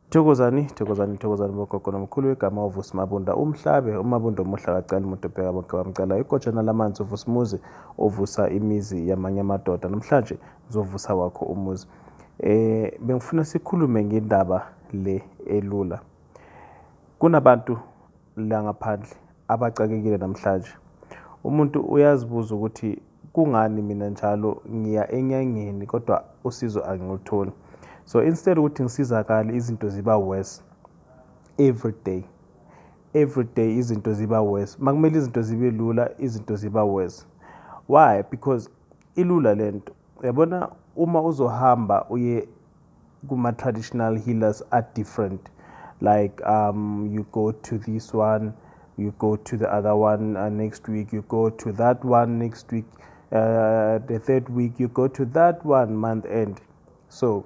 Thokozani, thokozani, thokozani bogogo nomkhulu wegama uVusi Mabunda, umhlabe, uMabunda omuhle akacali muntu bheka bonke bamcalayo, igojana lamanzi uVusimuzi ovusa imizi yamanye amadoda, namhlanje ngizovusa wakho umuzi. Eh bengifuna sikhulume ngendaba le elula. Kunabantu langaphandle abaxakekile namhlanje. Umuntu uyazibuza ukuthi kungani mina njalo ngiya enyangeni kodwa usizo angilutholi. So instead ukuthi ngisizakale izinto ziba worse every day. Every day izinto ziba worse. Makumele izinto zibe lula izinto ziba worse. Why? Because ilula lento. Yabona uma uzohamba uye kuma traditional healers are different like um you go to this one you go to the other one uh, next week you go to that one next week uh, the third week you go to that one month end so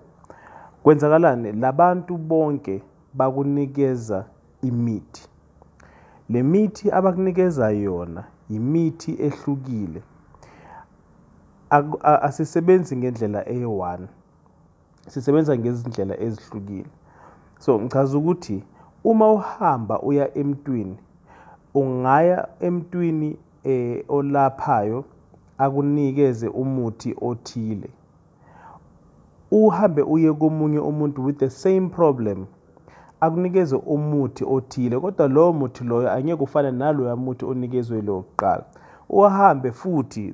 kwenzakalani labantu bonke bakunikeza imithi le mithi abakunikeza yona yimithi ehlukile asisebenzi ngendlela eyi-one sisebenza ngezindlela ezihlukile so ngichaza ukuthi uma uhamba uya emntwini ungaya emntwini eh olaphayo akunikeze umuthi othile uhambe uye komunye umuntu with the same problem akunikeze umuthi othile kodwa lowo muthi loyo angeke ufane naloya muthi onikezwe lo kuqala uhambe futhi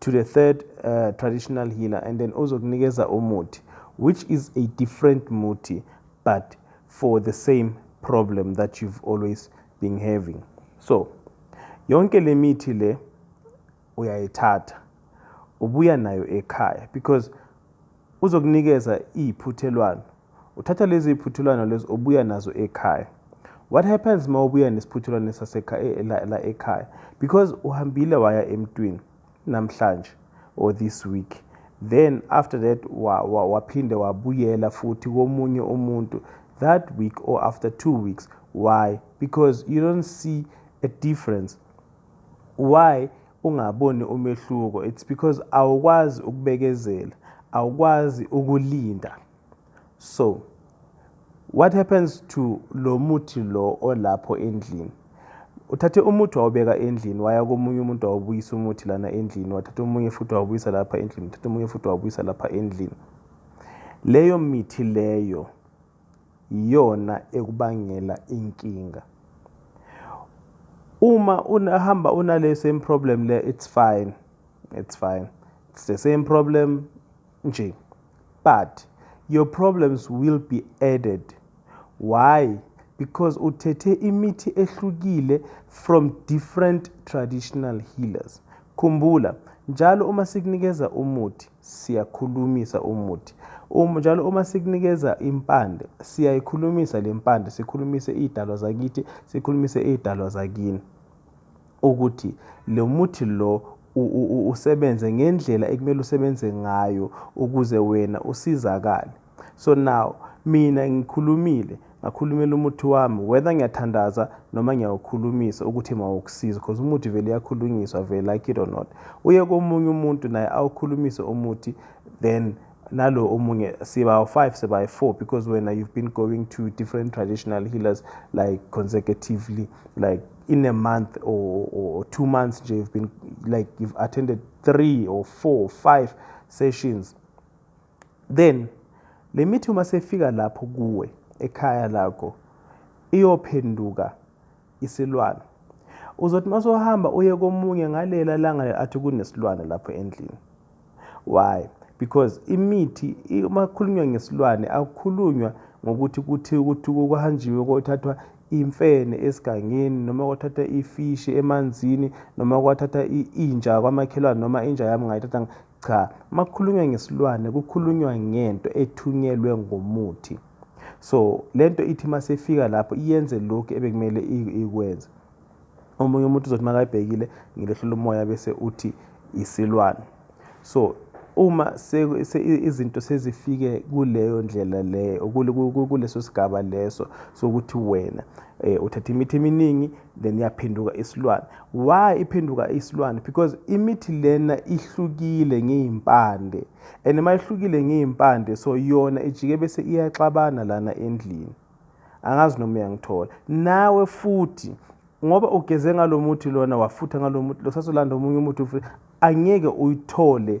to the third uh, traditional healer and then ozokunikeza umuthi which is a different muthi but for the same problem that you've always been having so yonke le mithi le uyayithatha ubuya nayo ekhaya because Uzokunikeza iy'phuthelwano. Uthatha lezo y'phuthelwano lezo ubuya nazo ekhaya. What happens uma ubuya nesiphuthelwano sasekhaya eh, la, la ekhaya? Because uhambile waya emntwini namhlanje or this week then after that waphinde wa, wa wabuyela futhi komunye umuntu that week or after two weeks why because you don't see a difference Why ungaboni umehluko? It's because awukwazi ukubekezela, awukwazi ukulinda. So what happens to lo muthi lo olapho endlini? Uthathe umuthi wawubeka endlini, waya komunye umuntu wawubuyisa umuthi lana endlini, wathatha omunye futhi wawubuyisa lapha endlini, uthatha omunye futhi wawubuyisa lapha endlini. Leyo mithi leyo iyona ekubangela inkinga. Uma unahamba unale same problem le it's fine. It's fine. It's the same problem nje. But your problems will be added. Why? Because uthethe imithi ehlukile from different traditional healers. Khumbula njalo uma sikunikeza umuthi siyakhulumisa umuthi uma njalo uma sikunikeza impande siyayikhulumisa le mpande sikhulumise iy'dalwa zakithi sikhulumise iy'dalwa zakini ukuthi lo muthi lo usebenze ngendlela ekumele usebenze ngayo ukuze wena usizakale So now mina ngikhulumile ngakhulumela umuthi wami whether ngiyathandaza noma ngiyawukhulumisa ukuthi mawukusiza because umuthi vele uyakhulunyiswa vele like it or not uye komunye umuntu naye awukhulumise umuthi then nalo omunye siba five siba four because wena you've been going to different traditional healers like consecutively like in a month or, or two months nje you've been like you've attended three or four or five sessions Then le mithi uma sefika lapho kuwe ekhaya lakho iyophenduka isilwane. Uzothi uma sohamba uye komunye ngalela langa athi kunesilwane lapho endlini. Why? Because imithi uma kukhulunywa ngesilwane akukhulunywa ngokuthi kuthi ukuthi kuhanjiwe kothathwa imfene esigangeni noma kwathatha ifishi emanzini noma kwathatha inja kwamakhelwane noma inja yami ngayithatha Cha, makukhulunywa ngesilwane kukhulunywa ngento ethunyelwe ngomuthi. So lento ithi masefika lapho iyenze lokhu ebekumele ikwenze. Omunye umuntu uzothi makayibhekile ngilehlula umoya bese uthi isilwane. So uma izinto sezifike kuleyo ndlela leyo kuleso sigaba leso sokuthi wena eh, uthatha imithi eminingi then yaphenduka isilwane why iphenduka isilwane because imithi lena ihlukile ngey'mpande and uma ihlukile ngey'mpande so yona ijike bese iyaxabana lana endlini angazi noma uyangithola nawe futhi ngoba ugeze ngalo muthi lona wafutha ngalo muthi lo sasolanda omunye umuthi angeke uyithole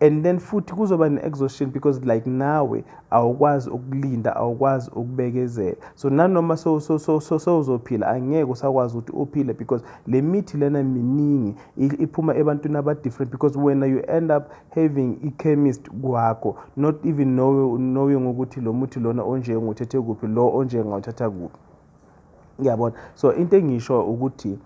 and then futhi kuzoba ne-exhaustion because like nawe awukwazi ukulinda awukwazi ukubekezela so nanoma sewuzophila angeke usakwazi ukuthi uphile because le mithi lena miningi iphuma ebantwini aba-different because wena you end up having i-chemist kwakho not even knowing ukuthi lo muthi lona onje nguthethe kuphi lo onje ngawuthatha kuphi ngiyabona so into engisho ukuthi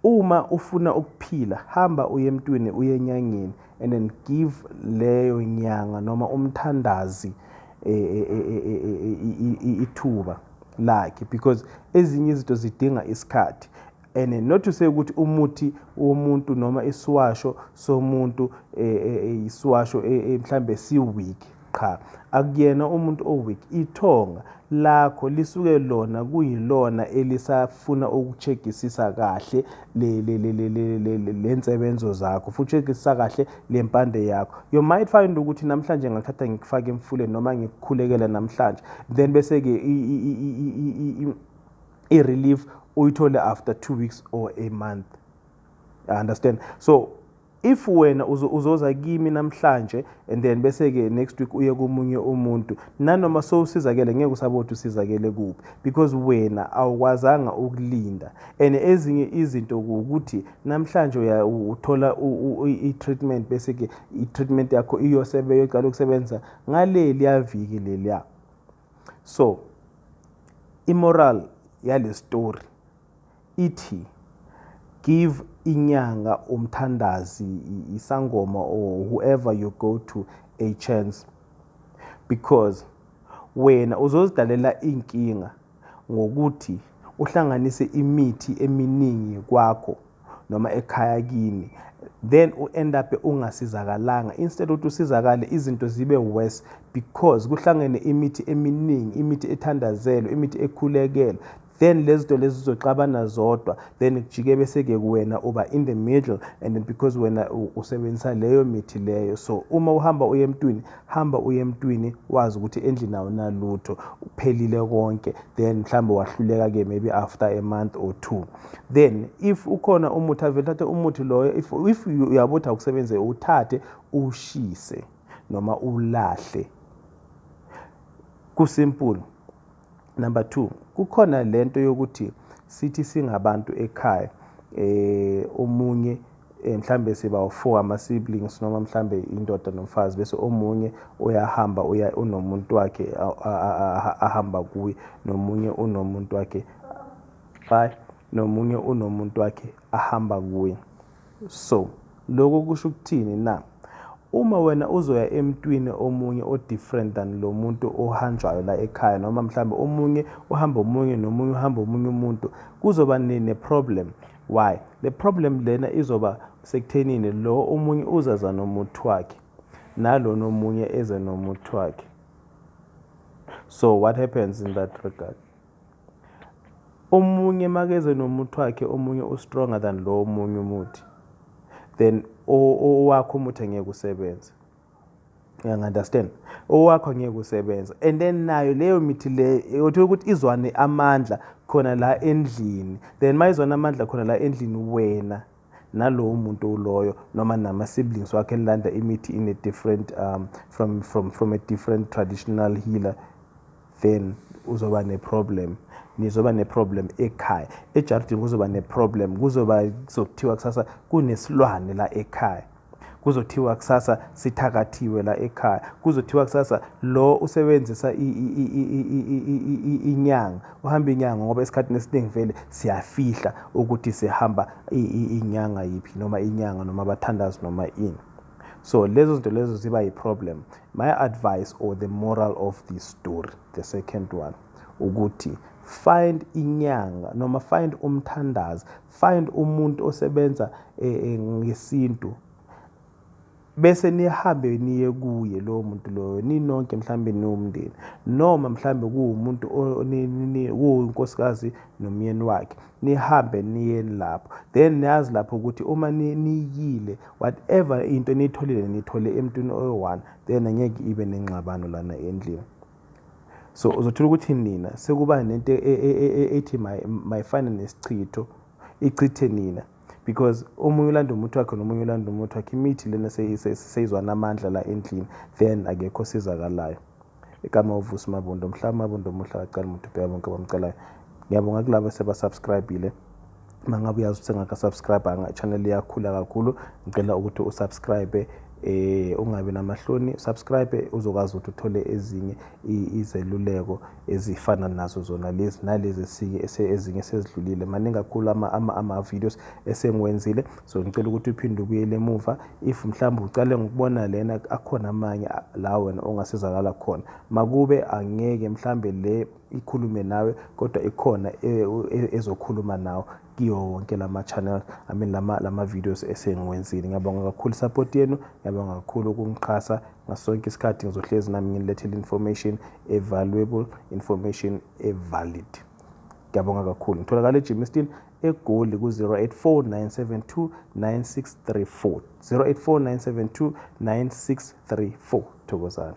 Uma ufuna ukuphila hamba uye emntwini uye enyangeni and then give leyo nyanga noma umthandazi ithuba lakhe because ezinye izinto zidinga isikhathi and not say ukuthi umuthi womuntu noma isiwasho somuntu isiwasho mhlambe siweak Qha akuyena umuntu o weak ithonga lakho lisuke lona kuyilona elisafuna ukucheckisisa kahle le le le le le le le lensebenzo zakho futhi checkisisa kahle lempande yakho you might find ukuthi namhlanje ngakuthatha ngikufaka emfuleni noma ngikukhulekela namhlanje then bese ke i relief uyithole after 2 weeks or a month I understand so If wena uzo, uzoza kimi namhlanje and then bese ke next week uye komunye umuntu nanoma sowusizakele ngeke usabothi usizakele kuphi because wena awukwazanga ukulinda and ezinye izinto ukuthi namhlanje uya uthola i-treatment bese ke i-treatment yakho iyosebe yoqala ukusebenza ngaleli yaviki leliya so imoral yale story ithi give inyanga umthandazi isangoma or whoever you go to a chance because wena uzozidalela inkinga ngokuthi uhlanganise imithi eminingi kwakho noma ekhaya kini then u end up ungasizakalanga instead ukuthi usizakale izinto zibe worse because kuhlangene imithi eminingi imithi ethandazelwe imithi ekhulekelwe then lezinto lezi zizoxabana zodwa then kujike bese ke kuwena uba in the middle and because wena usebenzisa leyo mithi leyo so uma uhamba uye emntwini hamba uye emntwini wazi ukuthi endlini awunalutho uphelile konke then mhlawumbe wahluleka ke maybe after a month or two then if ukhona umuthi avele thathe umuthi loyo if, if uyabo ukuthi awusebenze uthathe ushise noma ulahle kusimple Number two, kukhona lento yokuthi sithi singabantu ekhaya eh omunye eh, mhlambe siba u-four ama-siblings noma mhlambe indoda nomfazi bese omunye uyahamba uya unomuntu wakhe ahamba kuye nomunye unomuntu wakhe bye nomunye unomuntu wakhe ahamba kuye So, lokho kusho ukuthini na? Uma wena uzoya emntwini omunye o-different than lo muntu ohanjwayo la ekhaya, noma mhlawumbe omunye uhamba omunye nomunye uhamba omunye umuntu, kuzoba ne-problem. Why? Le problem lena izoba sekuthenini lo omunye uzaza nomuthi wakhe, nalona omunye eze nomuthi wakhe. So what happens in that regard? Omunye makeze nomuthi wakhe omunye u-stronger than lo omunye umuthi then owakho umuthi angeke usebenze uyangi-understand owakho angeke usebenza and then nayo leyo mithi leyo uthola ukuthi izwane amandla khona la endlini then uma izwane amandla khona la endlini wena nalowo muntu uloyo noma nama siblings wakhe elanda imithi in a different um, from, from, from a different traditional healer then uzoba neproblem nizoba neproblem ekhaya ejardini kuzoba neproblem kuzoba kuzokuthiwa kusasa kunesilwane la ekhaya kuzothiwa kusasa sithakathiwe la ekhaya kuzothiwa kusasa lo usebenzisa inyanga uhamba inyanga ngoba esikhathini esiningi vele siyafihla ukuthi sihamba inyanga yiphi noma inyanga noma abathandazi noma ini so lezo zinto lezo ziba yi-problem my advice or the moral of this story the second one ukuthi find inyanga noma find umthandazi find umuntu osebenza eh, eh, ngesintu bese nihambe niye kuye lowo muntu loyo ninonke mhlambe niwumndeni noma mhlambe kuwumuntu kuwunkosikazi nomyeni wakhe nihambe niye lapho then niyazi lapho ukuthi uma niyile whatever into eniyitholile nithole emntwini oyi-one then angeke ibe nengxabano lana endlini so uzothola ukuthi nina sekuba nento e, e, e, ethi mayifane nesichitho ichithe nina because omunye ulanda umuthi wakhe nomunye ulanda umuthi wakhe imithi lena seyizwana amandla la endlini then akekho osizakalayo igama uvusi mabundo mhlawumbe mabundo omuhle akacala umuntu ubheka bonke bamcelayo ngiyabonga kulabo sebasubscribile mangabe uyazi ukuthi engakasubscribanga channel iyakhula kakhulu ngicela ukuthi usubscribe eh ungabi namahloni subscribe uzokwazi ukuthi uthole ezinye izeluleko ezifana nazo zona lezi nalezi esinye ezinye sezidlulile maningi kakhulu ama ama, ama videos esengiwenzile so ngicela ukuthi uphinde ubuyele emuva if mhlawumbe ucale ngokubona lena akhona amanye la wena ongasizakala khona makube angeke mhlambe le ikhulume nawe kodwa ikhona e, e, ezokhuluma nawe kiwo wonke lama channel I mean lama lama videos esengiwenzile ngiyabonga kakhulu support yenu ngiyabonga kakhulu ukungixhasa ngasonke isikhathi ngizohlezi nami nginilethele information e valuable information e valid ngiyabonga kakhulu ngitholakala eGymiston egoli ku-084 084 thokozani